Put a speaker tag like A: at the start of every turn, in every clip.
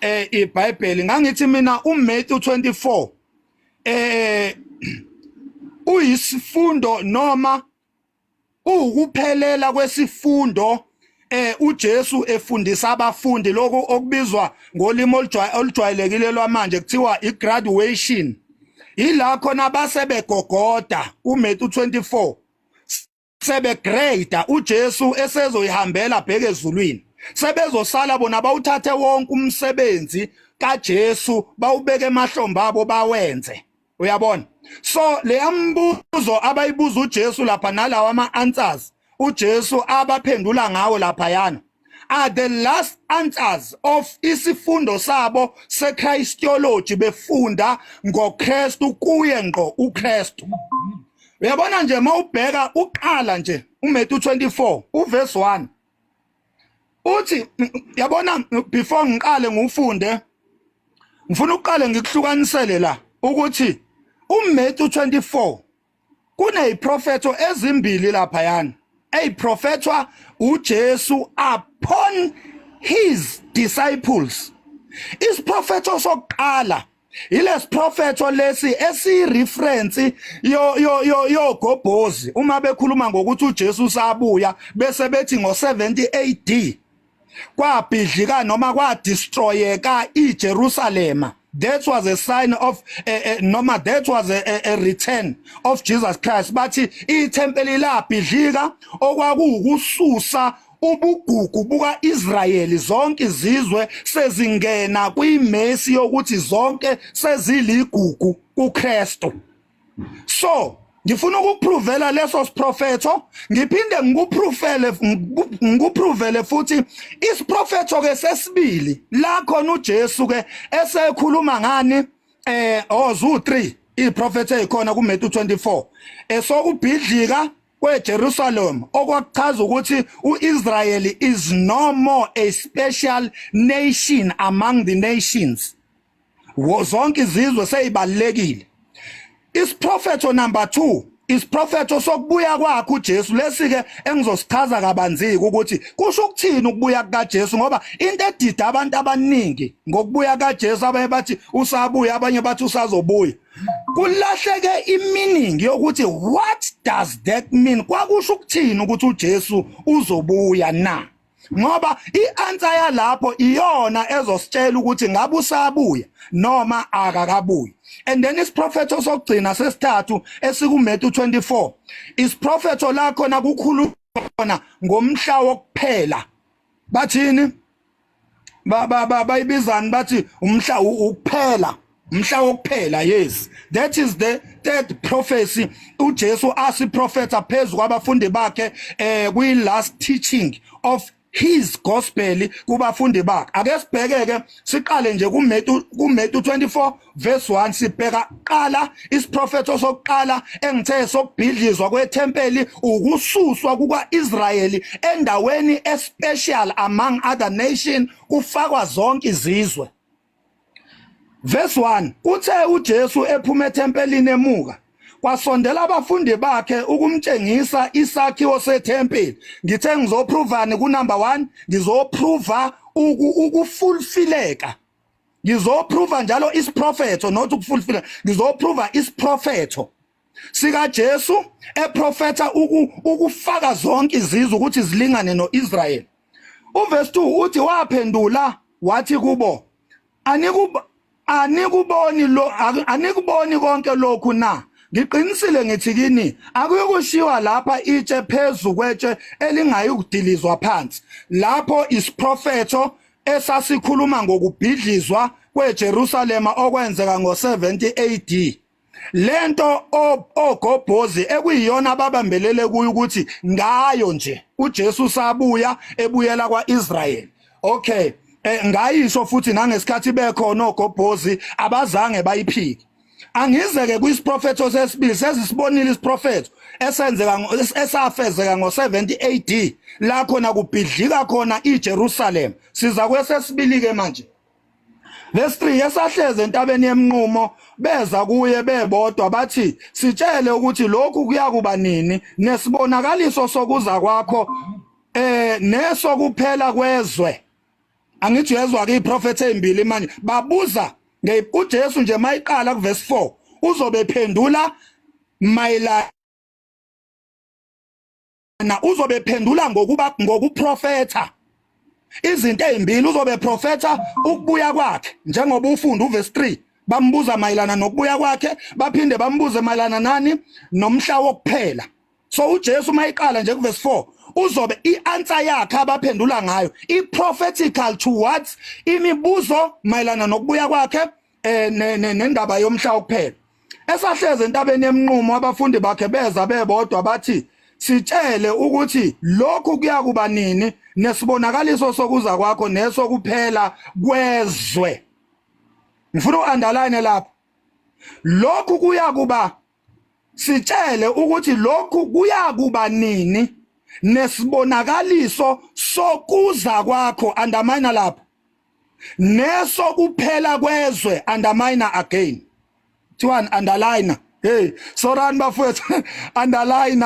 A: eh iBhayibheli ngangithi mina uMatthew 24 eh uyisifundo noma uwukuphelela kwesifundo eh uJesu efundisa abafundi lokho okubizwa ngolimi olujwayelekile lwamanje kuthiwa igraduation ila khona base begogoda uMatthew 24 sebegrade uJesu esezoyihambela bheke ezulwini sebezosala bona bawuthathe wonke umsebenzi kaJesu bawubeke emahlombe abo bawenze uyabona so leyambuzo abayibuza uJesu lapha nalawa ama answers uJesu abaphendula ngawo lapha yana are the last answers of isifundo sabo sechristology befunda ngoKristu kuye ngqo uKristu uyabona nje mawubheka uqala nje uMatthew 24 uverse 1 uthi yabona before ngiqale ngufunde ngifuna uqale ngikuhlukanisele la ukuthi uMatthew 24 kuneziprofetho ezimbili lapha yani eziprofethwa uJesu upon his disciples isiprofetho sokuqala ilesiprofetho lesi esireference yo yo yo yogobhozi uma bekhuluma ngokuthi uJesu sabuya bese bethi ngo70 AD kwabhidlika noma kwadestroyeka iJerusalema that was a sign of uh, uh, noma that was a, a, a return of Jesus Christ bathi ithempeli labhidlika okwakuwukususa ubugugu buka-Israyeli zonke izizwe sezingena kwimesi yokuthi zonke seziligugu kuKristu so ngifuna ukukupruvela leso siprofetho ngiphinde ngikupruvele ngikupruvele futhi isiprofetho ke sesibili la khona uJesu ke esekhuluma ngani eh ozu 3 iprofetho ezikhona kuMatthew 24 esokubhidlika kweJerusalem okwakuchaza ukuthi uIsrael is no more a special nation among the nations wozonke izizwe seyibalekile isiprofetho number 2 isiprofetho sokubuya kwakhe uJesu lesi-ke engizosichaza kabanziki ukuthi kusho ukuthini ukubuya kukaJesu ngoba into edida abantu abaningi ngokubuya kaJesu abanye bathi usabuya abanye bathi usazobuya kulahleke iminingi yokuthi what does that mean kwakusho ukuthini ukuthi uJesu uzobuya na ngoba i-answer yalapho iyona ezositshela ukuthi ngabe usabuya noma akakabuyi and then isiprofetho sokugcina sesithathu esikuMatthew 24 isiprofetho la khona kukhulu khona ngomhla wokuphela bathini bayibizani bathi umhla ukuphela mhla wokuphela yes that is the third prophecy uJesu asiprofetha phezulu kwabafundi bakhe eh kwi last teaching of his gospel kubafundi bakhe ake sibhekeke siqale nje kuMetu kuMetu 24 verse 1 sibheka qala isiprofetho sokuqala engithe sokubhidlizwa kwethempeli ukususwa kukaIsrayeli endaweni especial among other nation kufakwa zonke izizwe Verse 1 Uthe uJesu ephuma ethempelini emuka kwasondela abafundi bakhe ukumtshengisa isakhiwo sethempeli ngithe ngizoprovani ku number 1 ngizoprova ukufulfileka ngizoprova njalo isiprofetho not ukufulfileka ngizoprova isiprofetho sikaJesu eprofetha uku ukufaka zonke izizwe ukuthi zilingane noIsrael uverse 2 uthi waphendula wathi kubo anikuba anikuboni lo anikuboni konke lokhu na ngiqinisile ngithi kini akuyokushiwa lapha itshe phezu kwetshe elingayi kudilizwa phansi lapho isiprofetho esasikhuluma ngokubhidlizwa kweJerusalema okwenzeka ngo-70 AD lento ogobhozi ekuyiyona ababambelele kuyo ukuthi ngayo nje uJesu sabuya ebuyela kwaIsrael okay eh, ngayisho futhi nangesikhathi bekhona ogobhozi abazange bayiphike angizeke kwisiprofetho sesibili sezisibonile isiprofetho esenzeka esafezeka ngo70 AD la khona kubhidlika khona iJerusalem siza kwesesibili ke manje Verse 3 esahleze entabeni yemnqumo beza kuye bebodwa bathi sitshele ukuthi lokhu kuyakuba nini nesibonakaliso sokuza kwakho eh nesokuphela kwezwe angithi uyezwa ke iprofeti ezimbili manje babuza uJesu nje mayiqala kuverse 4 uzobe phendula mayelana na uzobe phendula ngokuba ngokuprofetha izinto ezimbili uzobe profetha ukubuya kwakhe njengoba ufunda uverse 3 bambuza mayelana nokubuya kwakhe baphinde bambuze mayelana nani nomhla wokuphela so uJesu mayiqala nje kuverse 4 uzobe ianswer yakhe abaphendula ngayo iprophetical towards imibuzo mayelana nokubuya kwakhe eh nendaba yomhla wokuphela esahleze entabeni yemnqumo abafundi bakhe beza bebodwa bathi sitshele ukuthi lokhu kuyakuba nini nesibonakaliso sokuza kwakho nesokuphela kwezwe ngifuna uunderline lapho lokhu kuyakuba sitshele ukuthi lokhu kuyakuba nini nesibonakaliso sokuza kwakho andamina lapho neso kuphela kwezwe undermine again kuthiwani underline hey sorani bafowethu underline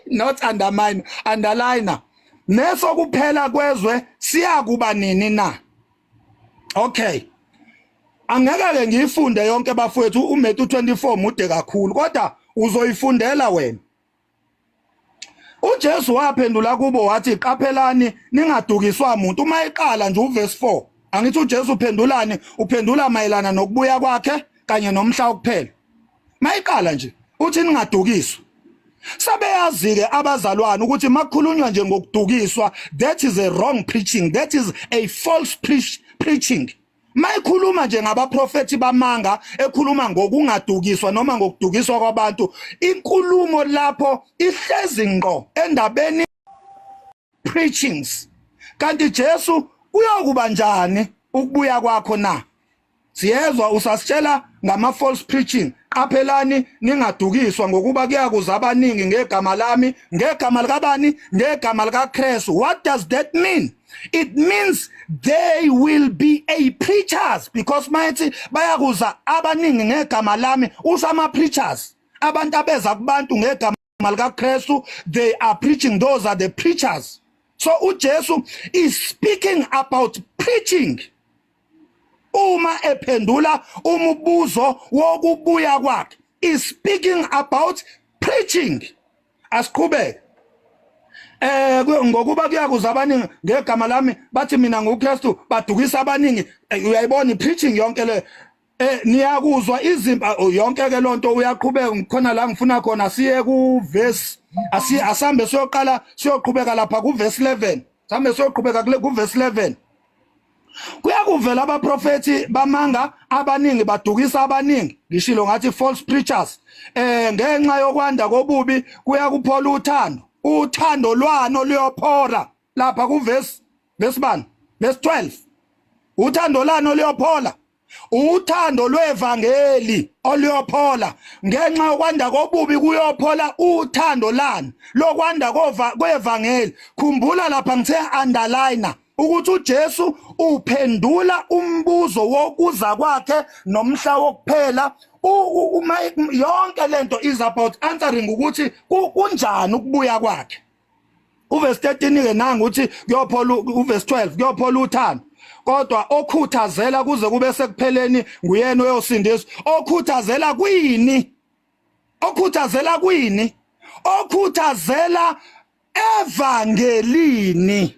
A: not undermine underline neso kuphela kwezwe siyakuba nini na okay angeke ke ngiyifunde yonke bafowethu uMetu 24 mude kakhulu kodwa uzoyifundela wena uJesu waphendula kubo wathi qaphelani ningadukiswa umuntu uma eqala nje uverse 4 angithi uJesu uphendulani uphendula mayelana nokubuya kwakhe kanye nomhla ukuphela mayiqala nje uthi ningadukiswa sebeyazike abazalwane ukuthi makukhulunywa nje ngokudukiswa that is a wrong preaching that is a false preach, preaching mayikhuluma nje ngabaprofethi bamanga ekhuluma ngokungadukiswa noma ngokudukiswa kwabantu inkulumo lapho ihlezi ngqo endabeni preachings kanti Jesu uyokuba njani ukubuya kwakho na siyezwa usasitshela ngama false preaching qaphelani ningadukiswa ngokuba kuyakuza abaningi ngegama lami ngegama likabani ngegama likaKristu what does that mean it means they will be a preachers because mayethi bayakuza abaningi ngegama lami usho ama-preachers abantu abeza kubantu ngegama likaKristu they are preaching those are the preachers so uJesu is speaking about preaching uma ephendula umubuzo wokubuya kwakhe is speaking about preaching asiqhubeke eh ngokuba kuyakuza abaningi ngegama lami bathi mina nguKristu badukisa abaningi eh, uyayibona preaching yonke le eh niyakuzwa izimba oh, yonke ke lonto uyaqhubeka ngikhona la ngifuna khona siye ku verse asi asambe siyoqala siyoqhubeka lapha ku verse 11 sambe siyoqhubeka ku verse 11 kuyakuvela abaprofethi bamanga abaningi badukisa abaningi ngishilo ngathi false preachers eh ngenxa yokwanda kobubi kuyakuphola uthando uthando lwano luyophora lapha kuvesi besibani besi 12 uthando lano luyophola uthando lwevangeli oluyophola ngenxa yokwanda kobubi kuyophola uthando lani lokwanda kwevangeli khumbula lapha ngithe underliner ukuthi uJesu uphendula umbuzo wokuza kwakhe nomhla wokuphela uma yonke lento is about answering ukuthi kunjani ukubuya kwakhe uvesi 13 ke nanga uthi kuyophola uvesi 12 kuyophola uthando kodwa okhuthazela kuze kube sekupheleni nguyena oyosindiswa okhuthazela kwini okhuthazela kwini okhuthazela evangelini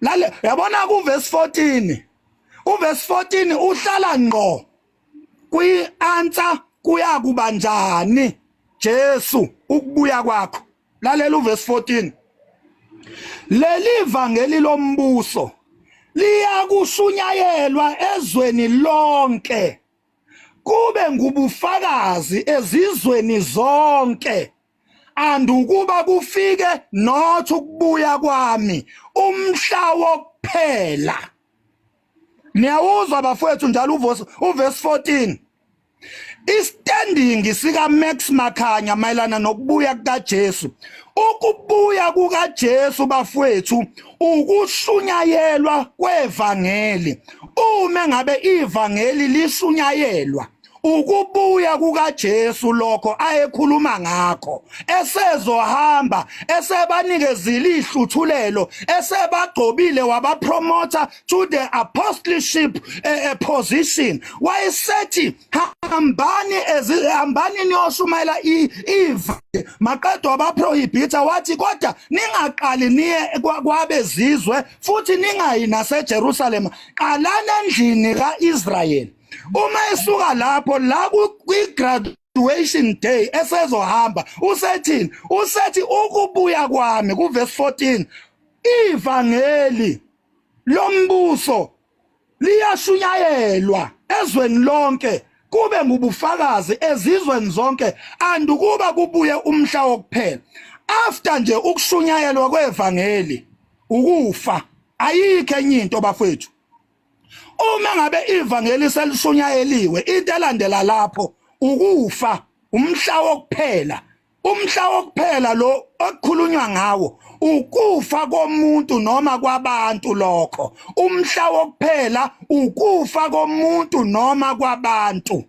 A: lale yabona ku verse 14 u verse 14 uhlala ngqo kwi answer kuya kuba njani Jesu ukubuya kwakho lalela u verse 14 leli vangeli lombuso liyakushunyayelwa ezweni lonke kube ngubufakazi ezizweni zonke and ukuba kufike not ukubuya kwami umhla wokuphela niyawuzwa bafowethu njalo uverse 14 istanding sika Max Makhanya mayelana nokubuya kukaJesu ukubuya kukaJesu bafowethu ukushunyayelwa kwevangeli uma ngabe ivangeli lishunyayelwa ukubuya kukaJesu lokho ayekhuluma ngakho esezohamba esebanikezile ihluthulelo esebagcobile wabapromotha to the apostleship uh, position wayesethi hambani hambani niyoshumayela iva maqedwa abaprohibitha wathi kodwa ningaqali niye kwabezizwe futhi ningayi naseJerusalem qalani endlini kaIsrayeli uma esuka lapho la kwi-graduation day esezohamba usethini usethi ukubuya kwami kuvesi 14 ivangeli lombuso liyashunyayelwa ezweni lonke kube ngubufakazi ezizweni zonke andukuba kubuye umhla wokuphela after nje ukushunyayelwa kwevangeli ukufa ayikho enye into bafethu uma ngabe ivangeli selishunyayeliwe into elandela lapho ukufa umhla wokuphela umhla wokuphela lo okukhulunywa ngawo ukufa komuntu noma kwabantu lokho umhla wokuphela ukufa komuntu noma kwabantu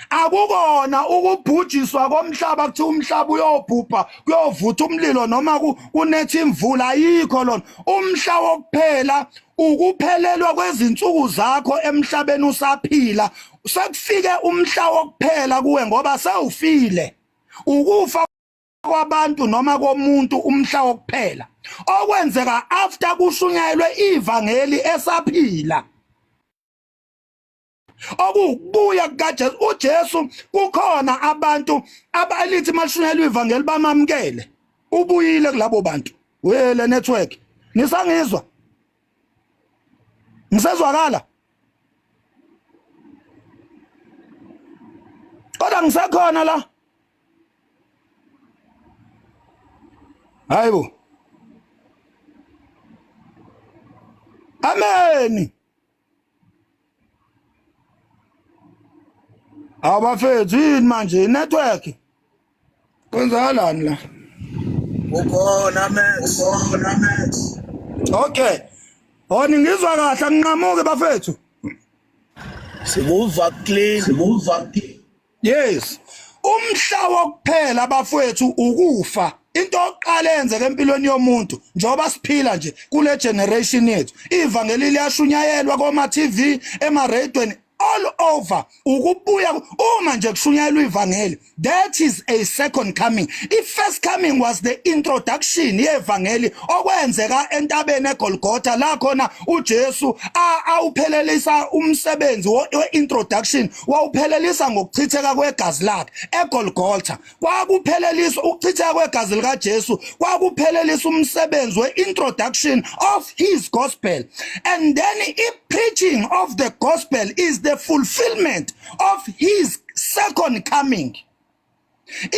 A: akukona ukubhujiswa komhlaba kuthi umhlaba uyobhubha kuyovutha umlilo noma kunetha imvula ayikho lona umhla wokuphela ukuphelelwa kwezinsuku zakho emhlabeni usaphila sekufike umhla wokuphela kuwe ngoba sewufile ukufa kwabantu noma komuntu umhla wokuphela okwenzeka after kushunyayelwe ivangeli esaphila okuwukubuya kukaJesu uJesu kukhona abantu abalithi mashunelwe ivangeli bamamkele ubuyile kulabo bantu wele network nisangizwa ngisezwakala kodwa ngisekhona la hayibo ameni Abafethu yini manje network? Kwenzakalani la?
B: Ukhona Max, ukhona Max. Okay.
A: Honi ngizwa kahle nginqamuke bafethu. Sikuva
B: clean, sikuva clean. yes
A: umhla wokuphela bafowethu ukufa into oqala yenzeke empilweni yomuntu njengoba siphila nje kule generation yethu ivangeli liyashunyayelwa koma TV ema radioen all over ukubuya uma nje kushunyayelwa ivangeli that is a second coming i first coming was the introduction yevangeli okwenzeka entabeni egolgotha la khona uJesu awuphelelisa umsebenzi we introduction wawuphelelisa ngokuchitheka kwegazi lakhe eGolgotha kwakuphelelisa ukuchitheka kwegazi likaJesu kwakuphelelisa umsebenzi weintroduction of his gospel and then i preaching of the gospel is the fulfillment of his second coming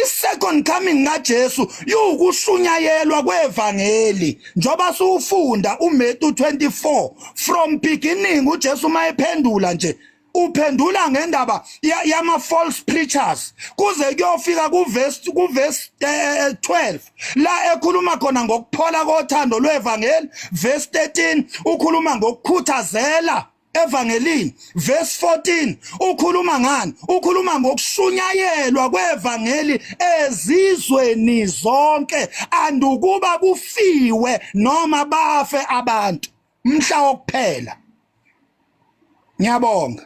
A: isecond coming kaJesu yukushunyayelwa kwevangeli njoba siwufunda uMetu 24 from beginning uJesu mayephendula nje uphendula ngendaba yama false preachers kuze kuyofika kuverse kuverse 12 eh, eh, eh, la ekhuluma khona ngokuphola kothando lwevangeli verse 13 ukhuluma ngokukhuthazela evangelini verse 14 ukhuluma ngani ukhuluma ngokushunyayelwa kwevangeli ezizweni zonke andukuba kufiwe noma bafe abantu mhla wokuphela ngiyabonga